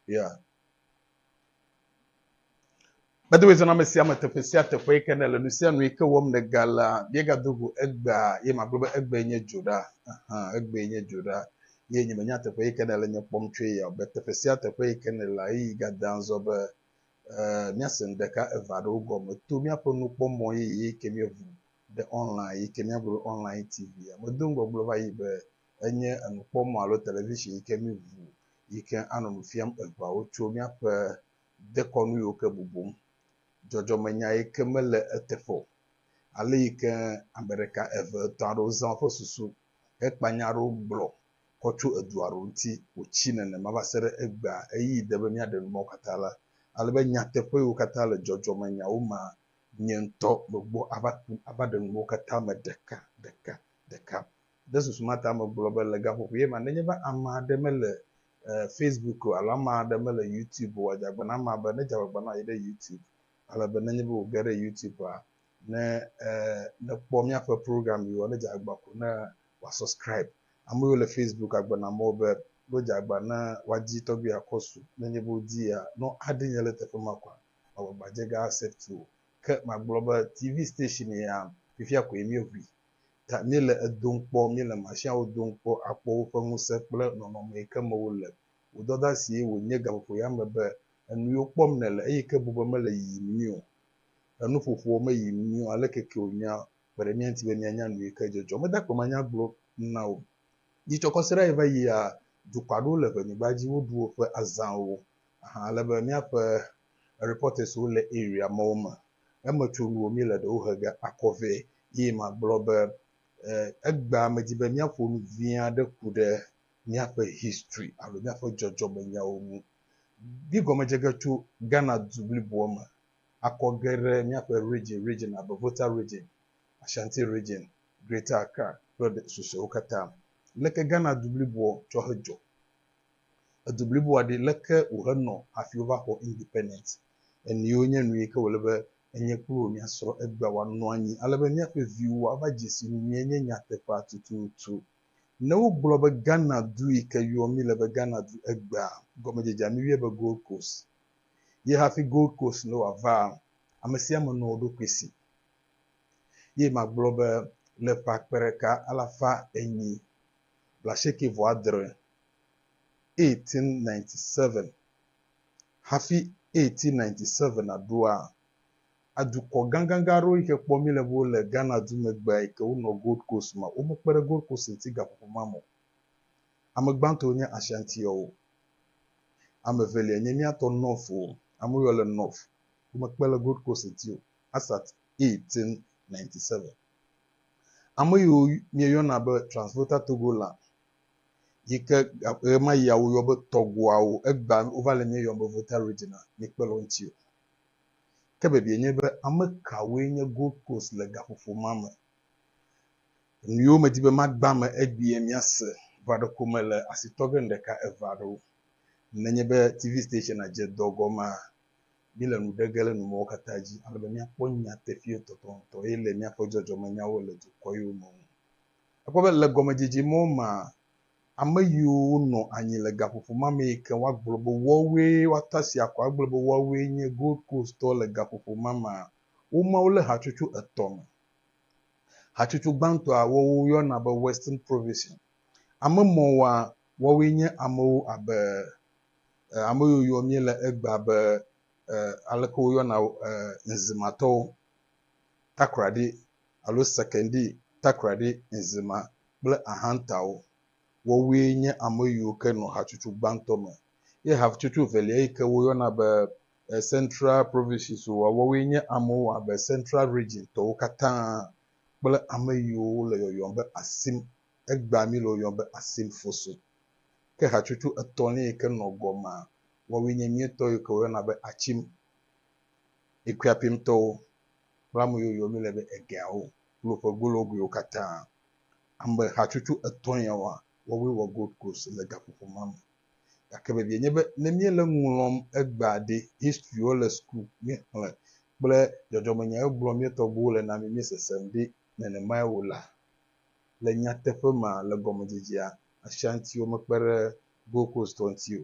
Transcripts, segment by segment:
Yeah. By the way, zɔna ame sia ame teƒe sia teƒe yi ke nèle nu sia nu yi ke wɔm nègalea, míegado go egbea ye magblɔ be egbee nye dzo ɖa. Ahan, egbee nye dzo ɖa. Ye nye menya teƒe yi ke nèle nye kpɔm tsoe ya o, be teƒe sia teƒe yi ke nèlea, ɣeyiɣi gadea zɔ be eh, míase nu ɖeka eve aɖewo gɔme to míaƒe nukpɔmɔ yeye yi ke míeʋu ɖe online yi ke míagblɔ be online TV ya. Medo ŋgɔ gblɔ va yi be enye enukpɔmɔ alo television yi ke míŋu yi ke anɔ nu fiam eŋeawo tso míaƒe dekɔnu yiwo ke bubum, dzɔdzɔmenya yi ke mele eteƒe o, ale yi ke ame ɖeka, eve, etɔ̃ aɖewo zã woƒe susu hekpa nya aɖewo gblɔ kɔ tso edu aɖewo ŋuti wòtsi nenema va se ɖe egbea. Ɣeyiɣi de be míaɖe nu mawo katã la, ale be nyateƒe yiwo katã le dzɔdzɔmenyawo mea, nye ŋutɔ megbɔ ava ku ava ɖe nu mawo katã me ɖeka ɖeka ɖeka Ɖe susu ma ta megblɔ be le gaƒoƒoe ma, nenye be ame aɖe mele Facebook o alo ame aɖe mele YouTube o, wòadze agba na amea be nedze agbagba nɔ anyi ɖe YouTube. Ale be nenye be wòge ɖe YouTube-a, ne nekpɔ míaƒe program yiwoa, nedze agba ko ne wòasɔskribe. Ame yiwo le Facebook agbe na mɔ be ne wodze agba ne woadi tɔgbi akɔ su. Nenye be wodiia, ne woadi nye le teƒe ma kɔa, magbagbadze ge aaccept wo. Ke magblɔ be TV station ya, fifia koe míeʋui. ta míle edom kpɔ, míle mashiawo dom kpɔ akpɔ woƒe ŋusẽ kple nɔnɔme yi ke me wole. Wò dɔdasie wònye gaƒoƒoya me be enuyiwo kpɔm nèle eyi ke bu be mele yiyim nyuie o. Enuƒoƒowo meyim nyuie o, aleke ke wònyea, kpe ɖe mía ŋuti be míanya nuyi ke dzedzɔ. Meda akpe manya gblɔ na wò. Dzidzɔkɔsiɖaɣi va yia, dukɔ aɖewo le ʋenyigba dzi, woɖu woƒe azãwo. Ahan ele be míaƒe reporterswo le area mawo me. Eme tso nuwo míele ɖewo he ge akɔ vɛ eye magblɔ be egbea medi be míaƒo nu vi aɖe ku ɖe míaƒe history alo míaƒe dzɔdzɔmenyawo ŋu. Di gɔmedze ge tso Ghana du bliboa me akɔ ge ɖe míaƒe region region abe Volta region, Ashanti region, Greater Accra kple susɔewo katã. Leke Ghana du bliboa tsɔ hedzɔ? edu bliboa ɖi leke wòhe nɔ hafi wova xɔ independence eniwo nye nuyi ke wòle be enye kple wò miasrɔ egbea wòanɔ anyi ale be miaƒe viwo ava dzesi nuyie nye nyateƒea tututu ne wogblɔ be Ghana du yi ke yɔ mi le be Ghana du egbea gɔmedzedzea mi yɔe be Gold Coast ye hafi Gold Coast ne wòavaa amesiame nɔ woɖokui si ye magblɔ be le ƒe akpe ɖeka alafa enyi blaasieke vɔ adre 1897. Hafi 1897 naɖoa, adukɔ gãgãgã aɖewo yi ke kpɔ mí le be wole Ghana du megbea yi ke wonɔ Gold Coast ma, womekpe ɖe Gold Coast ŋuti gaƒoƒo ma me o. Ame gbãtɔwo nye Ashantiɔwo. Ame evelia nye mía tɔ Northwo, ame woyɔ le North. Womekpe le Gold Coast ŋuti o. Asat 1897. Ame yiwo míeyɔna be Transvoter Togoland yi ke ɣemaɣia woyɔ be tɔgbuawo, egbea wova le míeyɔm be Volta Regina, míekpe le wo ŋuti o. Ke biabiae nye be, ame kawoe nye Gold Coast le gaƒoƒo ma me? Nuyiwo medi be magbã me egbea míase va ɖeko mele asi tɔ ge ŋɖeka, eve aɖewo. Nenye be TV stationa dze dɔ gɔmea, míle nu ɖe ge le numɔwo katã dzi ale be míakpɔ nyateƒee tɔtɔŋtɔ eye le míaƒe dzɔdzɔmenyawo le dukɔewo me ŋu. Èkpɔ be le gɔmedzedze mɔ mea, ame yiwo wonɔ anyi le gaƒoƒo ma me yi ke woagblɔ be woawoe woata si akɔ agblɔ be woawoe nye Gold Coast-tɔ le gaƒoƒo ma mea, woma wo le hatsotso etɔ̃ me. Hatsotso gbãtɔa woyɔna be Western Provision. Ame mɔwoa, woawoe nye amewo abe e, ame yiwo yɔ míele egbea be e, aleke woyɔna wo e, Nzimatɔwo. takraɖi alo sekendi takraɖi enzima kple ahantawo. Woawoe nye ame yiwo ke nɔ hatsotso gbãtɔ me. Ye hatsotso velia yi ke woyɔna be Central Provinces o, woawoe nye amewo abe Central Region tɔwo katã kple ame yiwo wole yɔyɔm be Asim, egbea míle wo yɔm be Asim Fosun. Ke hatsotso etɔ̃lia yi ke nɔ gɔmea, woawoe nye míetɔ yi ke woyɔna be Achim. Ɖekuiapimtɔwo kple ame yiwo yɔ mile be egeawo kple woƒe gologoewo katã. Ame hatsotso etɔ̃ yawoa, woawoe wɔ Gold Coast le gaƒoƒo ma me. Gake vevie nye be ne míele nu ŋlɔm egbea ɖi, history le suku míexlẽ kple dzɔdzɔmenya yiwo gblɔm mía tɔgbuiwo le na mí míesesem ɖi nenemae o la, le nyateƒe me le gɔmedzedzea, Ashantiwo mekpe ɖe Gold Coast tɔ ŋuti o.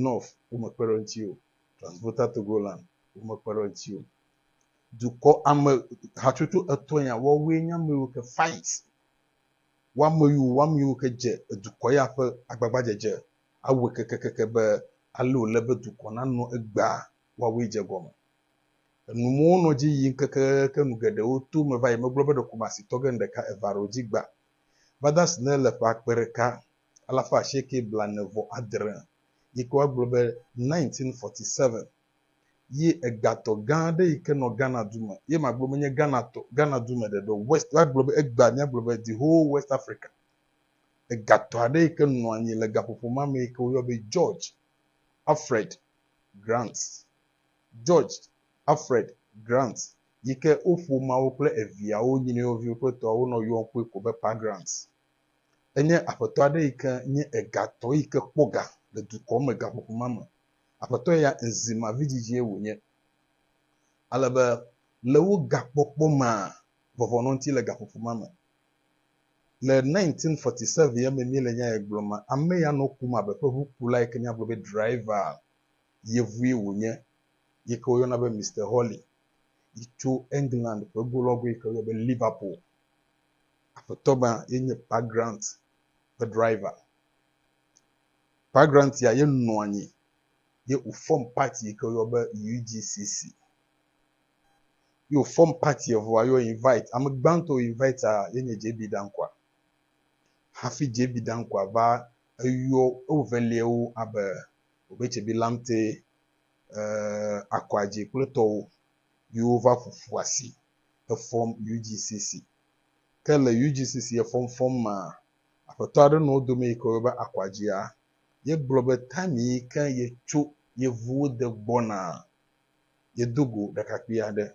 North womekpe ɖe eŋuti o. Transporter Togo Land wo me kpe ɖe ŋuti o. Dukɔ ame hatsotso etɔ̃ ya woawoe nye ame yiwo ke fight wo ame yiwo wo ame yiwo ke dze edukɔ ya ƒe agbagbadzedze awɔe kekekeke be ale wòle be dukɔ nanɔ egbea woawoe dze egɔme. Enu mɔ wonɔ dzi yim kekekeke nu geɖewo to me va yi megblɔ be ɖeko masitɔ ge ŋɖeka eva ɖe wo dzi gbã. Vada Snell le ƒe akpe ɖeka alafa asieke blaene vɔ adre, yike woagblɔ be 1947 ye egatɔ gã aɖe yike nɔ Ghana du me, ye magblɔ be nye Ghana tɔ, Ghana du me ɖeɖe o, West, woagblɔ be egbea míagblɔ be the whole West Africa, egatɔ aɖe yike nɔ anyi le gaƒoƒo ma me yike woyɔ be George Alfred Grant, George Alfred Grant, yike wo ƒomeawo kple eviawo, nyinɔewo viwo kple etɔawo nɔ yɔm kpɔe ko be Pa Grant. Enye aƒetɔ aɖe yi ke nye egatɔ yi ke kpɔ ga le dukɔ me gaƒoƒo ma me. Aƒetɔ ya ŋzima vidzidzie wònye. Ale be le wo gakpɔkpɔ mea, vɔvɔ̃ nɔ ŋuti le gaƒoƒo ma me. Le 1947 ya me míele nya ya gblɔm ma, ame ya nɔ kum abe ƒe ʋukula yi ke míagblɔ be driver yevue wònye yi ke woyɔna be Mister Hawley yi tso England ƒe golɔgo yi ke woyɔna be Liverpool. Aƒetɔ ma ye nye Pa Grant ƒe driver. Pa Grant ya ye nɔ anyi ye wòfɔm party yi ke woyɔ be UGCC. Ye wòfɔm party evɔa ye wo invite. Ame gbãtɔ wo invite ye nye JB Dankwa. Hafi JB Dankwa va eyɔ ewoveliawo abe Obetsebi Lamptey, eh, Akɔadzi kple tɔwo yi wova ƒoƒu asi. efɔm UGCC. Ke le UGCC efɔmfɔm mea, aƒetɔ aɖe nɔ wo dome yi ke woyɔna be Akwadjia. Ye gblɔ be time yi ke yetso yevuwo de gbɔnaa, yedo go ɖekakpui aɖe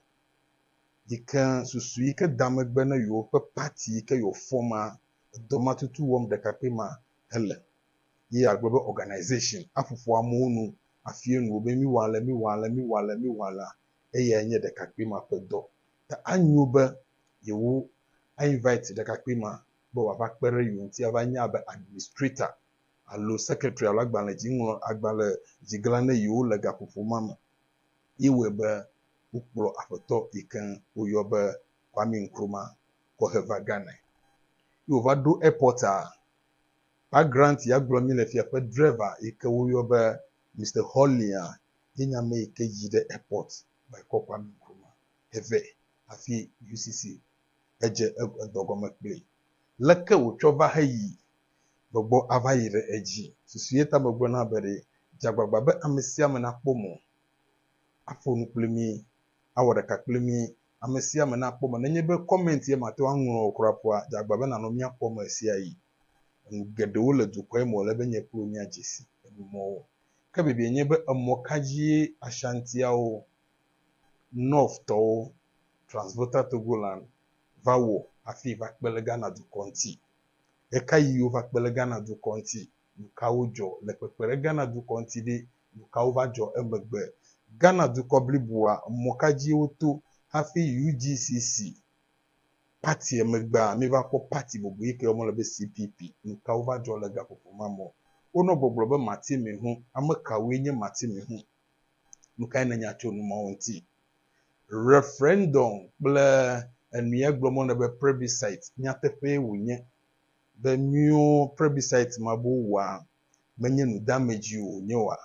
yi ke susu yi ke da megbe na yewoƒe party yi ke yewòfɔ ma, edɔ ma tutu wɔm ɖekakpui ma hele. Ye yeagblɔ be organisation aƒoƒo amewo nu, afia nu wo be miwɔ ale, miwɔ ale, miwɔ ale, miwɔ alea, eyae nye ɖekakpui ma ƒe dɔ. Ta anyo be yewo a invite ɖekakpui ma be wòava kpe ɖe yewo ŋuti ava nye abe administrator alo secretary alo agbalẽ dzi ŋlɔ agbalẽ dzi gla ne yewo le gaƒoƒo ma me. Ye wɔe be wokplɔ aƒetɔ yi ke woyɔ be Kwame Nkrumah kɔ he va Ghanae. Yi wòva ɖo airport a, Pa Grant ya gblɔ mí le fia ƒe driver yi ke woyɔ be Mister Hollia ye nye ame yi ke yi ɖe Airport va kpɔ Kwame Nkrumah hevɛ hafi UCC hedze edɔ gɔme kpli. Leke wòtsɔ va heyi? Megbɔ ava yi ɖe edzi. Susu ye ta megblɔ na be ɖe dze agbagba be ame sia ame nakpɔ mɔ aƒo nu kpli mí, awɔ ɖeka kpli mí. Ame sia ame nakpɔ mɔ nenye be comment ye mate ŋu aŋlɔ o kura ƒoa, dze agbagba be nànɔ mía kpɔm ɣesiaɣi. Enu geɖewo le dukɔa me wòle be nye kple wò míadze si emɔwo. Ke biabiae nye be, emɔ ka dzie Ashantiawo, North-tɔwo, Transvolta Togoland, va wɔ hafi va kpe ɖe Ghana-dukɔ ŋuti? Ɣekaɣi wova kpe ɖe Ghana-dukɔ ŋuti? Nukawo dzɔ le kpekpe ɖe Ghana-dukɔ ŋuti ɖi? Nukawo va dzɔ emegbe? Ghana-dukɔ bliboa, emɔ ka dzie woto hafi UGCC Party megbea, míva kpɔ party bubu yi ke yɔm wole be CPP. Nuka wova dzɔ le gaƒoƒo ma me? Wonɔ gbɔgblɔ be Mati Mihu. Ame kawoe nye Mati Mihu? Nukae nènya tso nu mawo ŋuti? Referendum kple enu ye gblɔm wole be plebiscite nyateƒee wònye be míwo plebiscite ma be wowɔa menye nudeamedzi wònye oa?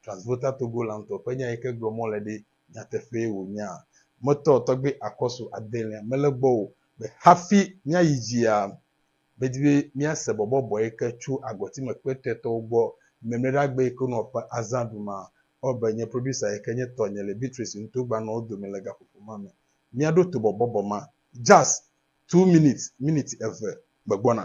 Transvolta Togolantɔ ƒe nya yi ke gblɔ mɔle ɖe nyateƒee wònyaa? Metɔ tɔgbe akɔsu adelia mele gbɔ o be hafi míayi dzia, medi be míase bɔbɔ bɔe ke tso agɔtime kpɛtɛtɔwo gbɔ. Mɛmlɛɖagbe yi ke wonɔ ƒe azã ɖuma, ewɔ be nye producer yi ke nye tɔnye le Beatrice nuto gba nɔ wo dome le gaƒoƒo ma me. Míaɖo to bɔbɔbɔ ma. Jazz, two minutes, miniti eve, megbɔna.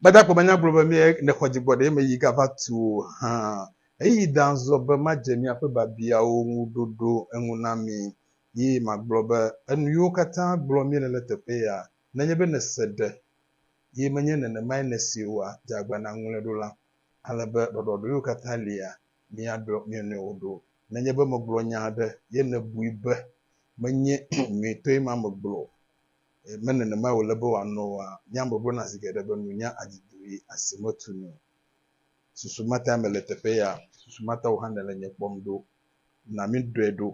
Gbadagba manya gblɔ be mie ne xɔ dzigbɔ ɖe eme yi gava tu o hã. Eyi dan zɔ be madze miaƒe biabiawo ŋu ɖoɖo eŋu na mi. Yi magblɔ be, Enu yiwo katã gblɔ miele le teƒe ya, nenye be nèse ɖe, yi menye nenemae nèsee oa, dze agbagba nàŋlɔe ɖo la. Ale be ɖɔɖɔɖoewo katã lia, miaɖɔ mia nɔewo ɖo. Nenye be megblɔ nya aɖe ye nèbui be menye nyuitɔe ma megblɔ o, eye menye nenemae wòle be wòanɔ oa, nye ame gblɔna zi geɖe be nunya adzi dui asi metu nu. Susu ma tae mele teƒe ya, susu ma ta wò hã nèle nye kpɔm ɖo. Na míɖɔe ɖo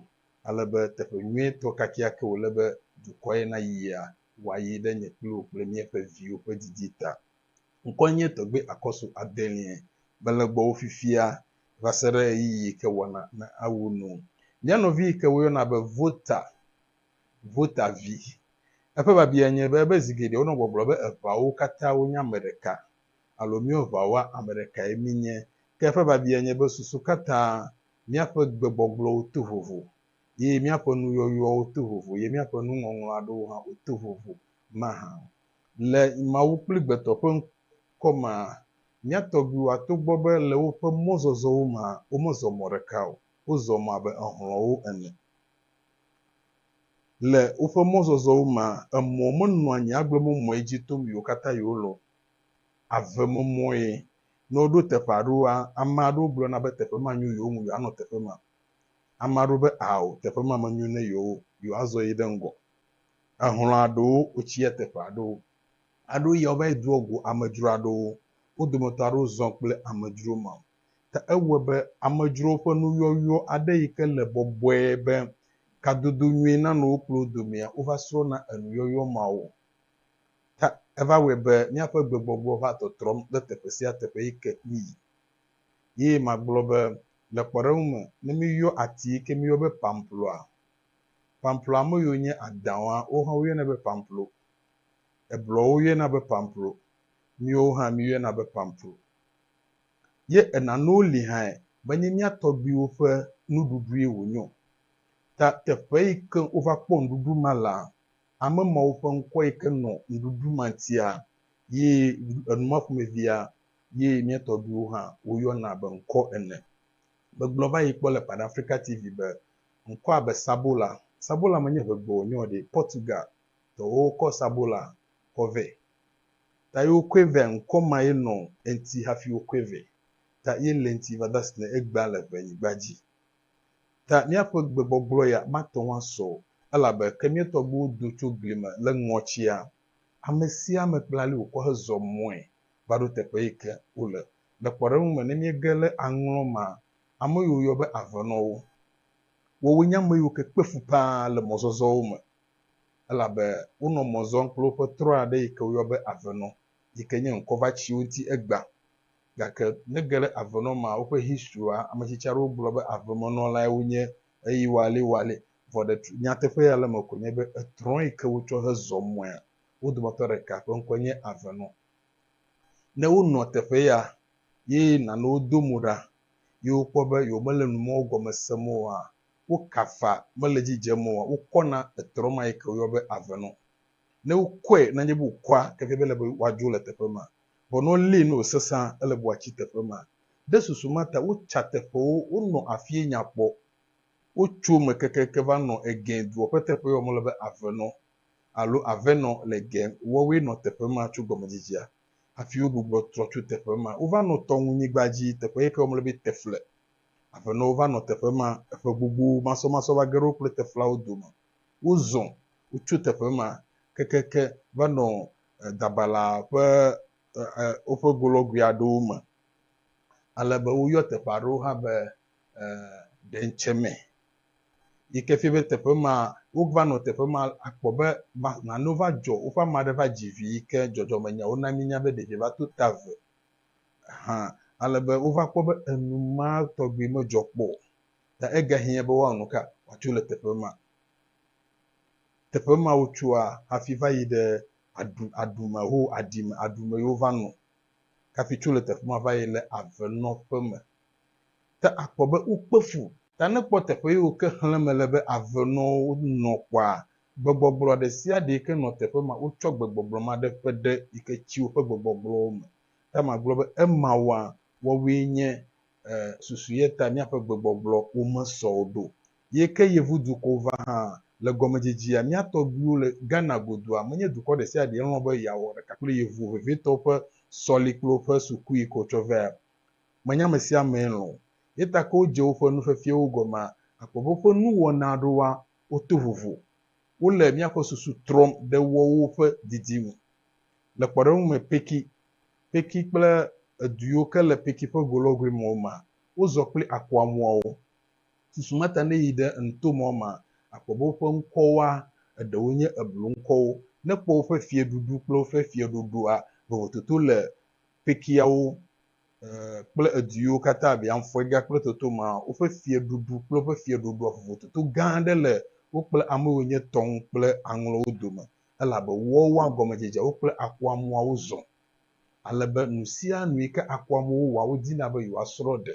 ale be teƒe nyuitɔ kakeake wòle be dukɔ ye nayia, wòayi ɖe nye kple wò kple míaƒe viwo ƒe didi ta. Ŋkɔe nye Tɔgbui Akɔsu Adelie. Mele gbɔwò fifia va se ɖe ɣeyiɣi yi ke wɔna na awu nu. Mía nɔvi yi ke woyɔna be Vota, Vota vi. Eƒe biabia nye be ebe zi geɖe wonɔ gbɔgblɔ be eŋawo katã wonye ame ɖeka alo míwo ŋawoa ame ɖekae mínye. Ke eƒe biabia nye be susu katã míaƒe gbegbɔgblɔwo to vovo ye míaƒe nuyɔyɔwo to vovo ye míaƒe nuŋɔŋlɔ aɖewo hã woto vovo mahã o. Le Mawu kple gbetɔ ƒe ŋkɔ mea, mía tɔgbuiwoa togbɔ be le woƒe mɔzɔzɔwo mea womezɔ mɔ ɖeka o, wozɔ mɔ abe exlɔ̃wo ene. Le woƒe mɔzɔzɔwo mea, emɔ menɔa anyi agblemɔmɔe dzi tom yiwo katã yewolɔ̃. Avemɔmɔe. Ne woɖo teƒe aɖewoa, ame aɖewo gblɔna be teƒe ma nyo yewo ŋu yewoanɔ teƒe ma. Ame aɖewo be ao, teƒe ma menyo na yewo o, yewoazɔ yi ɖe ŋgɔ. Ehlɔ̃ aɖewo wotsi eteƒe aɖewo aɖo ya wova yi doa go amedzro aɖewo. Wo dometɔ aɖewo zɔ kple amedzro ma. Ke ewɔe be amedzrowo ƒe nuyɔyɔ aɖe yi ke le bɔbɔe be kadodo nyui nanɔ wo kple wo domea, wova srɔ̃na enuyɔyɔ mawo. Ta eva wɔe be míaƒe gbegbɔgbɔ va tɔtrɔm ɖe teƒe sia teƒe yi ke míyi. Ye magblɔ be, le kpɔɖeŋu me, ne míyɔ ati yi ke míyɔ be pamploa, Pamplo ame yiwo nye Adãwa, wo hã woyɔnɛ be Pamplo. Ebluɔwo yɔnɛ be Pamplo. Míwo hã míyɔnɛ be Pamplo. Ye enanewo li hãe, menye mía tɔgbuiwo ƒe nuɖuɖue wònye o. Ta teƒe yi ke wova kpɔ ŋɖuɖu ma lea, ame mawo ƒe ŋkɔ yi ke nɔ ŋɖuɖu ma ŋutia, ye enu ma ƒomevia, ye mía tɔgbuiwo hã woyɔna be ŋkɔ ene. Megblɔ va yi kpɔ le Pan Africa TV be Ŋkɔa be sabola. Sabola menye ʋegbe wònye o ɖe. Portugal tɔwo kɔ sabola kɔ vɛ. Ta ye wokɔe vɛ ŋkɔ ma ye nɔ eŋti hafi wokɔe vɛ. Ta ye le eŋti va dasi ne egbea le ʋe nyigba dzi. Ta míaƒe gbe gbɔgblɔ ya mate ŋu asɔ o, elabe ke mía tɔgbuiwo do tso gli me le ŋɔtsia, ame sia ame kple ali wòkɔ hezɔ mɔe va ɖo teƒe yi ke wole. Le kpɔɖeŋu me, ne míege le aŋlɔ ma Ame yiwo woyɔ be aʋenɔwo. Woawoe nye ame yiwo ke kpe fu ƒãa le mɔzɔzɔwo me, elabe wonɔ mɔ zɔm kple woƒe trɔ̃ aɖe yi ke woyɔ be aʋenɔ, yi ke nye ŋkɔvatsiwo ŋuti egbea. Gake nege ɖe aʋenɔ ma woƒe historia, ame tsitsi aɖewo gblɔ be avemenɔlae wonye eye woale woale, vɔ ɖe nyateƒe ya le eme koe nye be etrɔ̃ yi ke wotsɔ hezɔ mɔea, wo dometɔ ɖeka ƒe ŋkɔe nye aʋenɔ. Ne wonɔ teƒe ya Ye nanewo do mo ɖa, ye wokpɔ be yewomele nu mawo gɔme sem oa? Wokafa, mele edzi dzem oa? Wokɔna etrɔ ma yi ke woyɔa be ave nɔ. Ne wokɔe, nenye be wokɔa keke be ele be woadzo le teƒe ma, vɔ ne wolée ne wòsesẽa, ele be woatsi teƒe ma. Ɖe susu ma ta wotsa teƒewo, wonɔ afie nya kpɔ. Wotso eme kekeake va nɔ Egɛn dua ƒe teƒe yi woyɔa be ave nɔ alo Avenɔ le Egɛn, woawoe nɔ teƒe ma tso gɔmedzidzea. Hafi wogbugbɔ trɔ tso teƒe ma, wova nɔ tɔŋunyigba dzi, teƒe yi ke womlɔ be Tefle. Aƒenɔwo va nɔ teƒe ma eƒe gbogbo masɔmasɔ va ge ɖe wo kple Teflawo dome. Wozɔ, wotso teƒe ma kekeke va nɔ Dabala ƒe woƒe golɔgui aɖewo me, ale be woyɔ teƒe aɖewo hã be Ɖentseme. yi ke fia be teƒe ma wova nɔ teƒe ma akpɔ be nanewo va dzɔ, woƒe ame aɖe va dzi vi yi ke dzɔdzɔmenyawo na míenya be ɖevia va to ta ve hã ale be wova kpɔ be enu ma tɔgbi medzɔ kpɔ o. Ta egahiã be woawɔ nu ka wòatso le teƒe ma. Teƒe ma wotsoa hafi va yi ɖe aɖu aɖu me ho aɖi me aɖu me ye wova nɔ kafi tso le teƒe ma va yi le avenɔƒe me. ta akpɔ be wokpe fu. Ta ne kpɔ teƒe ye wo ke xlẽ mele be ave nɔ wo nɔ kɔa, gbegbɔgblɔ ɖe sia ɖe yi ke nɔ teƒe ma wo tsɔ gbegbɔgblɔ ma ɖe ƒe ɖe yi ke tsi woƒe gbegbɔgblɔwo me. Ta ma gblɔ be ema woa wɔwoe nye e susu ye ta miaƒe gbegbɔgblɔ wo me sɔ o ɖo. Ye ke yevu dukɔwo va hã le gɔme dzidzia mia tɔgbuiwo le Ghana godua menye dukɔ ɖe sia ɖe lɔ̃ be yeawɔ ɖeka kple yevu vevitɔwo ƒe sɔli kple woƒe sukui yi ke wo tsɔ vea Menya ame sia amee lɔ̃. Ye ta ke wodze woƒe nu fefiewo gɔmea, akpɔ be woƒe nuwɔna aɖewoa, woto vovo. Wole míaƒe susu trɔm ɖe woawo ƒe didi ŋu. Le kpɔɖeŋu me Peki, Peki kple edu yiwo ke le Peki ƒe go lɔgoe me o mea, wozɔ kple akɔa mɔawo. Susu ma ta ne èyi ɖe enuto mɔa mea, akpɔ be woƒe ŋkɔwoa, eɖewo nye ebluŋkɔwo. Ne èkpɔ woƒe fiẽɖuɖu kple woƒe fiẽ ɖoɖoa, vovototo le Pekiawo kple edu yiwo katã abiamfɔega kple toto ma, woƒe fiaɖuɖu kple woƒe fiaɖuɖua vovototo gã aɖe le wo kple ame yiwo nye Tɔŋ kple Aŋlɔwo dome, elabe woawoa gɔmedzedzeawo kple akuamuawo zɔ, ale be nusianu yi ke akuamuwo wɔa, wodina be yewoasrɔ̃ ɖe.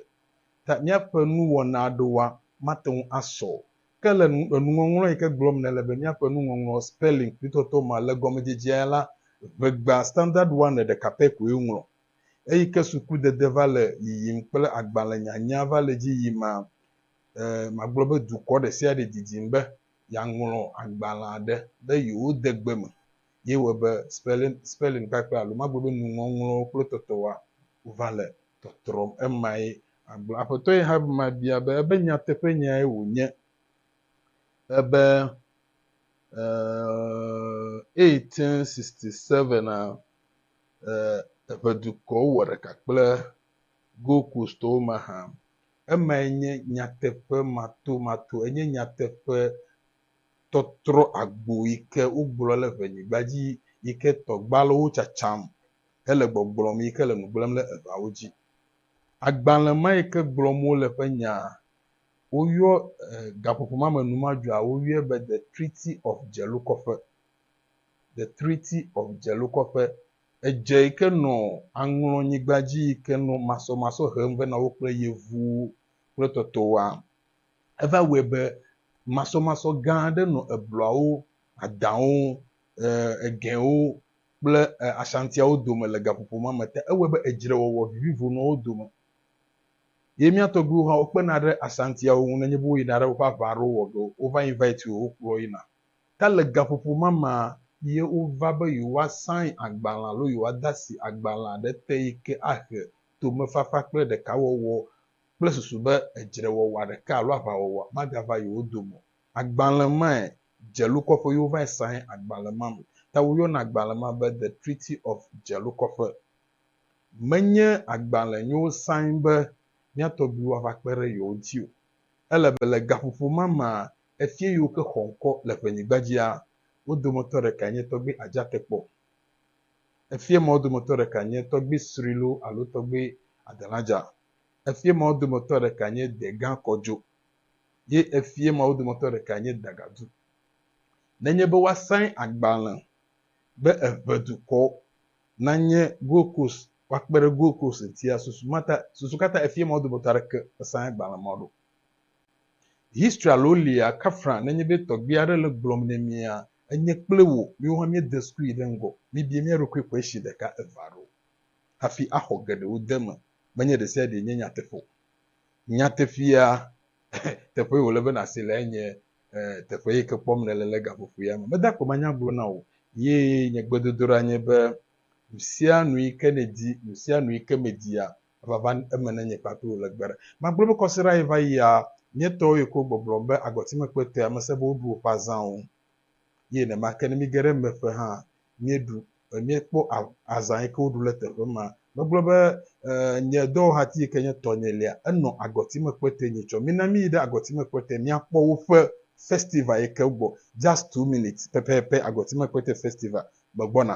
Ta míaƒe nuwɔna aɖewoa, mate ŋu asɔ o, Ke le enuŋɔŋlɔ yi ke gblɔm nèle be míaƒe nuŋɔŋlɔ, spelling, nutɔtɔ ma le gɔmedzedzea la, ʋegba Standard One ɖeka pɛ koe woŋlɔ. Eyi ke sukudede va le yiyim kple agbalẽnyanya va le edzi yim ma, e, magblɔ be dukɔ ɖesiaɖe didim be yeaŋlɔ agbalẽa ɖe be yewode gbe me. ye wɔe be spelling kpakple alo magblɔ be nuŋɔŋlɔwo kple tɔtɔwoa va le tɔtrɔm emae agblɔ. Aƒetɔ ye hã ma bia be ebe nyateƒe nyae wònye ebe eh, 1867 a eh, eƒe dukɔwo wɔ ɖeka kple Gold Coastwo mahã. Emae nye nyateƒe matomato, enye nyateƒe tɔtrɔ agbo yi ke wogblɔ le ʋenyigba dzi yi ke tɔgbalewo tsatsam hele gbɔgblɔm yi ke le nu gblẽm le eʋeawo dzi. Agbalẽ ma yi ke gblɔm wole ƒe nyaa, woyɔ gaƒoƒo ma me numadzoa woyɔe be The Treaty of Dzelokɔƒe, The Treaty of Dzelokɔƒe. Edze yi ke nɔ aŋlɔnyigba dzi yi ke nɔ masɔmasɔ hem vɛ na wo kple yevuwo kple tɔtɔwoa. Eva wɔe be masɔmasɔ gã aɖe nɔ ebluawo, adãwo, egɛwo, kple Ashantiawo dome le gaƒoƒo ma me ta. Ewɔe be edzrewɔwɔ vivivo nɔ wo dome. Ye mía tɔgbuiwo hã wokpena ɖe Ashantiawo ŋu nenye be woyina ɖe woƒe aʋa aɖewo wɔ ge o, wova invite wo, wokplɔ wo yina. Ta le gaƒoƒo ma mea, ye wova be yewoa sign agbalẽ alo yewoa de asi agbalẽ aɖe te yi ke ahe tomefafa kple ɖekawɔwɔ kple susu be edzrewɔwɔa ɖeka alo aʋawɔwɔa magava yewo dome o. Agbalẽ mae Dzelukɔƒe yɔ vae sãhe agbalẽ ma me. Ta woyɔna agbalẽ ma be The Treaty of Dzelukɔƒe. Menye agbalẽ nyowo sãhe be mía tɔgbuiwo ava kpe ɖe yewo ŋuti o. Ele be le gaƒoƒo ma mea, efia yiwo ke xɔ ŋkɔ le ƒenyigba dzia, wo dometɔ ɖekae nye Tɔgbui Adjatekpɔ. Efia ma wo dometɔ ɖekae nye Tɔgbui Srilo alo Tɔgbui Adeladja. Efie mawo dometɔ ɖeka nye degã kɔdzo, ye efie mawo dometɔ ɖeka nye dagadu. Nenye be woasãe agbalẽ be eʋe dukɔ nanye Gold Coast, woakpe ɖe Gold Coast ŋutia, susu ma ta, susu ka ta efie mawo dometɔ aɖeke mesãe agbalẽ ma ɖo? History alo lia kafra nenye be tɔgbui aɖe le gblɔm ne mia, enye kple wò, miwo hã miede sukui ɖe ŋgɔ, mibie mia ɖokui question ɖeka eve aɖewo hafi axɔ geɖewo de eme. menye ɖe sia ɖee nye nyateƒe o. Nyateƒea, teƒee wòle be nàse lae nye teƒe yi ke kpɔm nèle le gaƒoƒoea me. Meda akpe manya gblɔ na wò ye nye gbedodoɖa nye be nusianu yi ke nèdi, nusianu yi ke mèdia, ava va eme ne nye kpakple wò le gbe aɖe. Magblɔ be kɔsiɖa yi va yia, nye tɔwo yi ke wogbɔgblɔm be agɔtimekpetɔe ame sẽ be woɖu woƒe azãwo. Ye nenema ke ne mige ɖe eme ƒe hã, míeɖu, míekpɔ azã yi ke woɖu le teƒe ma. Megblɔ be, Ee, nye dɔwɔhati yi ke nye tɔnyelia, enɔ agɔtime kpɔtɔe nye tsɔ. Mina míyi ɖe agɔtime kpɔtɔe míakpɔ woƒe festival yi ke gbɔ. Just two minutes pɛpɛpɛ, agɔtime kpɔtɔe festival, megbɔna.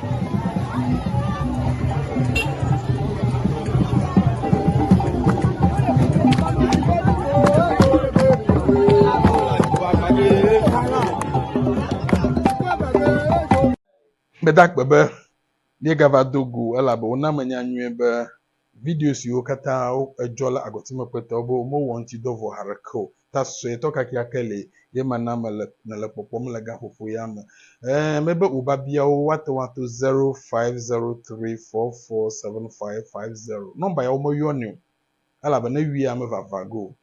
Gbedakpe be míegava do go elabe wona menya nyuie be Video siwo katã edzɔ la agɔtime kpɔtɔ be womewɔ ŋuti dɔ vɔ haɖeke o. Ta suetɔ kakeake li ye mana mele nèle kpɔkpɔm le gaƒoƒo ya me. Ẽ, mebe wò biabiawo woate ŋu ato zero five zero three four four seven five five zero. Nɔmba ya womeyɔnɛ o elabe ne wia mevava ge o.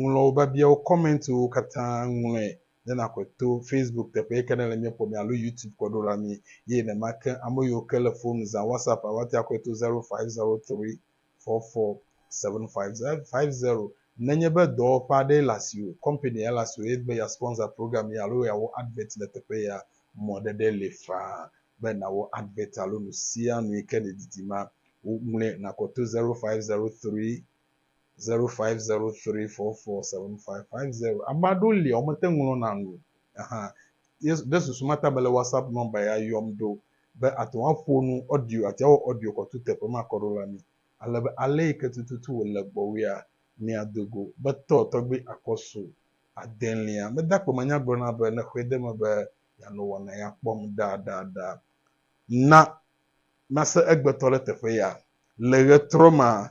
Ŋlɔ wò biabiawo, kɔmɛntiwo katã, ŋlɔe ne nakɔe to Facebook teƒe yi ke ne le mía kpɔm alo YouTube kɔ ɖo la mí eye nema ke ame yiwo ke le fonu zã WhatsApp a woate akɔe to zero five zero three four four seven five zero five zero. Nenye be dɔwɔƒe aɖee le asiwò, kɔmpani aɖe le asiwò eye èdi be yeasponsor program ye alo yeawɔ advert le teƒe yea, mɔɖeɖe li faa be nàwɔ advert alo nusianu yi ke nèdidi ma. Wo ŋlɔe nakɔ to zero five zero three Zero five zero three four four seven five five zero. Ame aɖewo lia womete ŋlɔna nu o. Ahan. Ɖe susu mata be le WhatsApp nɔmba ya yɔm ɖo be ate ŋu aƒo nu audio ati awɔ audio kɔtu teƒe ma kɔ ɖo la mi. Ale be ale yi ke tututu wòle gbɔwòea, miado go be tɔ tɔgbi akɔsu adelia. Mede akpe me nya gblɔna be ne xɔe de eme be yeanɔ wɔna ya kpɔm ɖaɖaɖa. Na mase egbetɔ ɖe teƒe ya. Le ɣetrɔ ma,